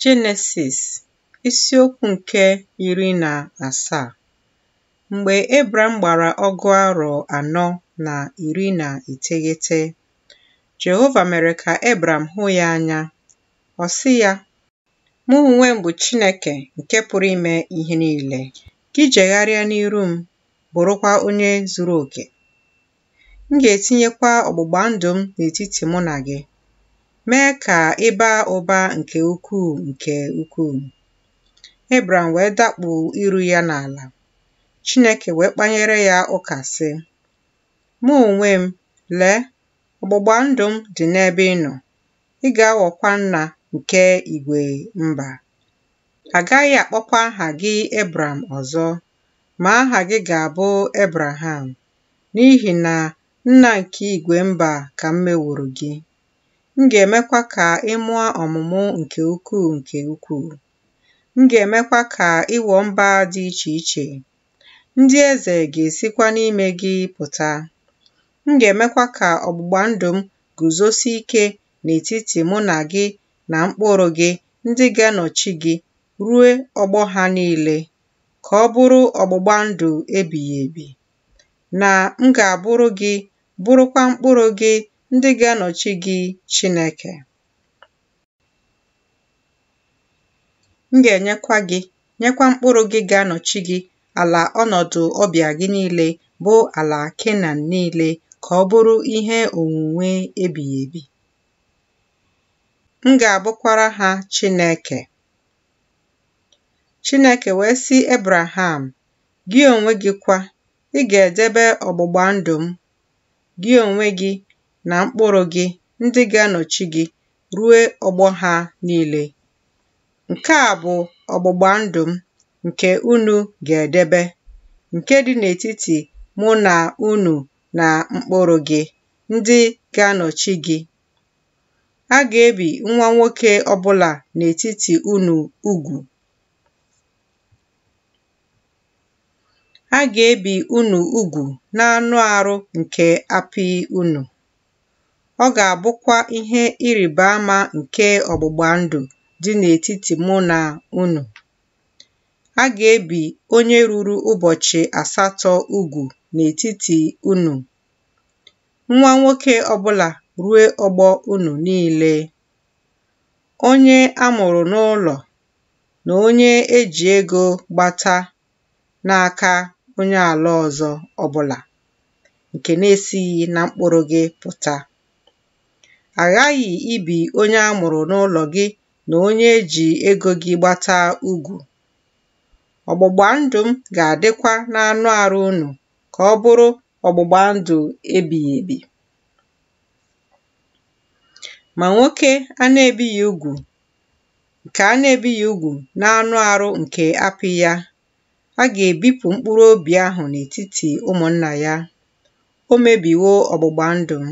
Jenesis isiokwu nke iri na asaa Mgbe Ebram gbara ọgụ arọ anọ na iri na iteghete, Jehova mere ka Ebram hụ ya anya. Ọ sị ya, Mụ onwe m bụ Chineke nke pụrụ ime ihe niile. Gị jegharịa n'iru m, bụrụkwa onye zuru oke. M ga-etinyekwa ọgbụgba ndụ m n'etiti mụ na gị, mee ka ị baa ụba nke ukwuu nke ukwuu. Ebram wee dakpu iru ya n'ala. Chineke wee kpanyere ya ụka sị, Mụ onwe m, lee, ọgbụgba ndụ m dị n'ebe ị nọ, ị ga-aghọkwa nna nke igwe mba. A gaghị akpọkwa aha gị Ebram ọzọ, ma aha gị ga-abụ Ebraham, n'ihi na nna nke igwe mba ka m meworo gị. M ga-emekwa ka ị mụọ ọmụmụ nke ukwuu nke ukwuu. M ga-emekwa ka ị ghọọ mba dị iche iche. Ndị eze ga-esikwa n'ime gị pụta. M ga-emekwa ka ọgbụgba ndụ m guzosie ike n'etiti mụ na gị na mkpụrụ gị ndị ga-anọchi gị ruo ọgbọ ha niile. ka ọ bụrụ ọgbụgba ndụ ebighị ebi, na m ga-abụrụ gị, bụrụkwa mkpụrụ gị ndị ga-anọchi gị Chineke. M ga-enyekwa gị, nyekwa mkpụrụ gị ga-anọchi gị ala ọnọdụ ọbịa gị niile bụ ala Kenan niile ka ọ bụrụ ihe onwunwe ebighị ebi. M ga-abụkwara ha Chineke. Chineke wee sị Ebraham, Gị onwe gị kwa, ị ga-edebe ọgbụgba ndụ m, gị onwe gị na mkpụrụ gị ndị ga-anọchi gị ruo ọgbọ ha niile. Nke a bụ ọgbụgba ndụ m nke unu ga-edebe, nke dị n'etiti mụ na unu na mkpụrụ gị ndị ga-anọchi gị A ga-ebi nwa nwoke ọbụla n'etiti unu ugwu. A ga-ebi unu ugwu n'anụ arụ nke apị unu. Ọ ga-abụkwa ihe ịrịba ama nke ọgbụgba ndụ dị n'etiti mụ na unu. A ga-ebi onye ruru ụbọchị asatọ ugwu n'etiti unu nwa nwoke ọbụla ruo ọgbọ unu niile, onye a mụrụ n'ụlọ na onye e ji ego gbata n'aka onye ala ọzọ ọbụla nke na-esighị na mkpụrụ gị pụta. A ghaghị ibi onye a mụrụ n'ụlọ gị na onye e ji ego gị gbata ugwu. Ọgbụgba ndụ m ga-adịkwa n'anụ arụ unu ka ọ bụrụ ọgbụgba ndụ ebighị ebi. Ma nwoke a na-ebighị ugwu nke a na-ebighị ugwu n'anụ arụ nke apị ya, a ga-ebipụ mkpụrụ obi ahụ n'etiti ụmụnna ya. O mebiwo ọgbụgba ndụ m.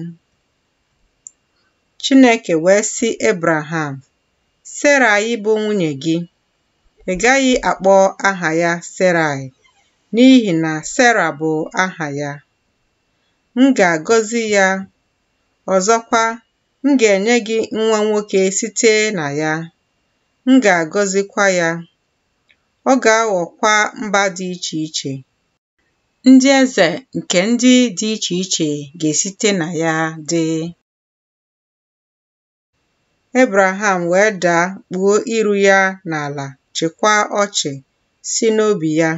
Chineke wee sị Ebraham, Seraị bụ nwunye gị, Ị gaghị akpọ aha ya Serai, n'ihi na Sera bụ aha ya. M ga-agọzi ya, ọzọkwa, m ga-enye gị nwa nwoke site na ya, m ga-agọzikwa ya. Ọ ga-aghọkwa mba dị iche iche. Ndị eze nke ndị dị iche iche ga-esite na ya dị. Ebraham wee daa kpuo iru ya n'ala chịkwaa ọchị sị n'obi ya,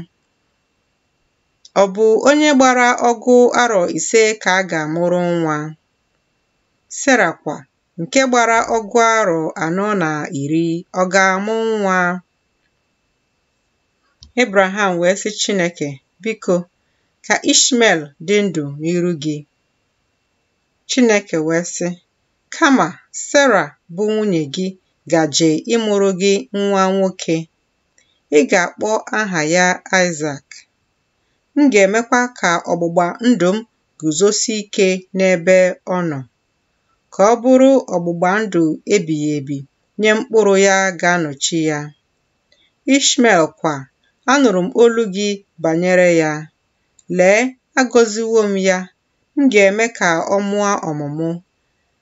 Ọ bụ onye gbara ọgụ arọ ise ka a ga-amụrụ nwa. Sera kwa nke gbara ọgụ arọ anọ na iri ọ ga-amụ nwa. Ebraham wee sị Chineke, Biko, ka Ishmel dị ndụ n'iru gị. Chineke wee sị, kama Sera bụ nwunye gị gaje ịmụrụ gị nwa nwoke. Ị ga-akpọ aha ya Aịzak. M ga-emekwa ka ọgbụgba ndụ m guzosie ike n'ebe ọ nọ, ka ọ bụrụ ọgbụgba ndụ ebighị ebi nye mkpụrụ ya ga-anọchi ya. Ishmel kwa, anụrụ m olu gị banyere ya. Lee, agọziwo m ya M ga-eme ka ọ mụọ ọmụmụ,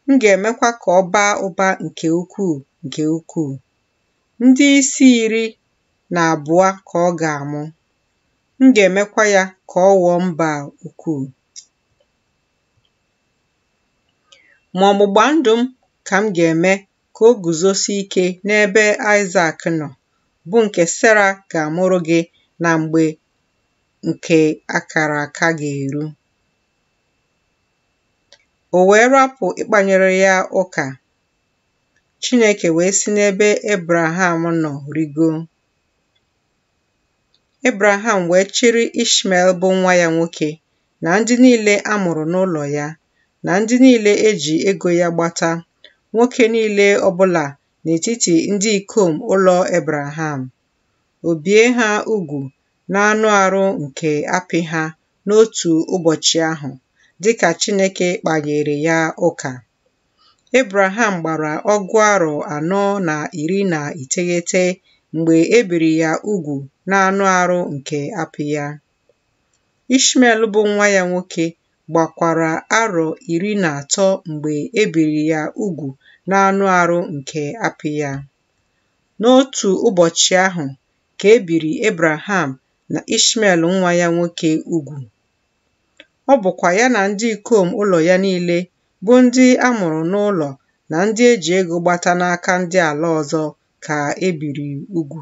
m ga-emekwa ka ọ baa ụba nke ukwuu nke ukwuu. Ndị isi iri na abụọ ka ọ ga-amụ, m ga-emekwa ya ka ọ ghọọ mba ukwuu. Ma ọgbụgba ndụ m ka m ga-eme ka o guzosie ike n'ebe Aịzak nọ, bụ nke Sera ga-amụrụ gị na mgbe nke akara aka ga-eru. O wee rapụ ịkpanyere ya ụka. Chineke wee si n'ebe Ebraham nọ rigo. Ebraham wee chịrị Ishmael bụ nwa ya nwoke na ndị niile a mụrụ n'ụlọ ya na ndị niile e ji ego ya gbata, nwoke niile ọbụla n'etiti ndị ikom ụlọ Ebraham, o bie ha ugwu n'anụ arụ nke apị ha n'otu ụbọchị ahụ, dịka Chineke kpanyere ya ụka. Ebraham gbara ọgụ arọ anọ na iri na iteghete mgbe e biri ya ugwu n'anụ arụ nke apị ya. Ishmael bụ nwa ya nwoke gbakwara arọ iri na atọ mgbe e biri ya ugwu n'anụ arụ nke apị ya. N'otu ụbọchị ahụ ka e biri Ebraham na Ishmael nwa ya nwoke ugwu. Ọ bụkwa ya na ndị ikom ụlọ ya niile bụ ndị a mụrụ n'ụlọ na ndị e ji ego gbata n'aka ndị ala ọzọ ka e biri ugwu.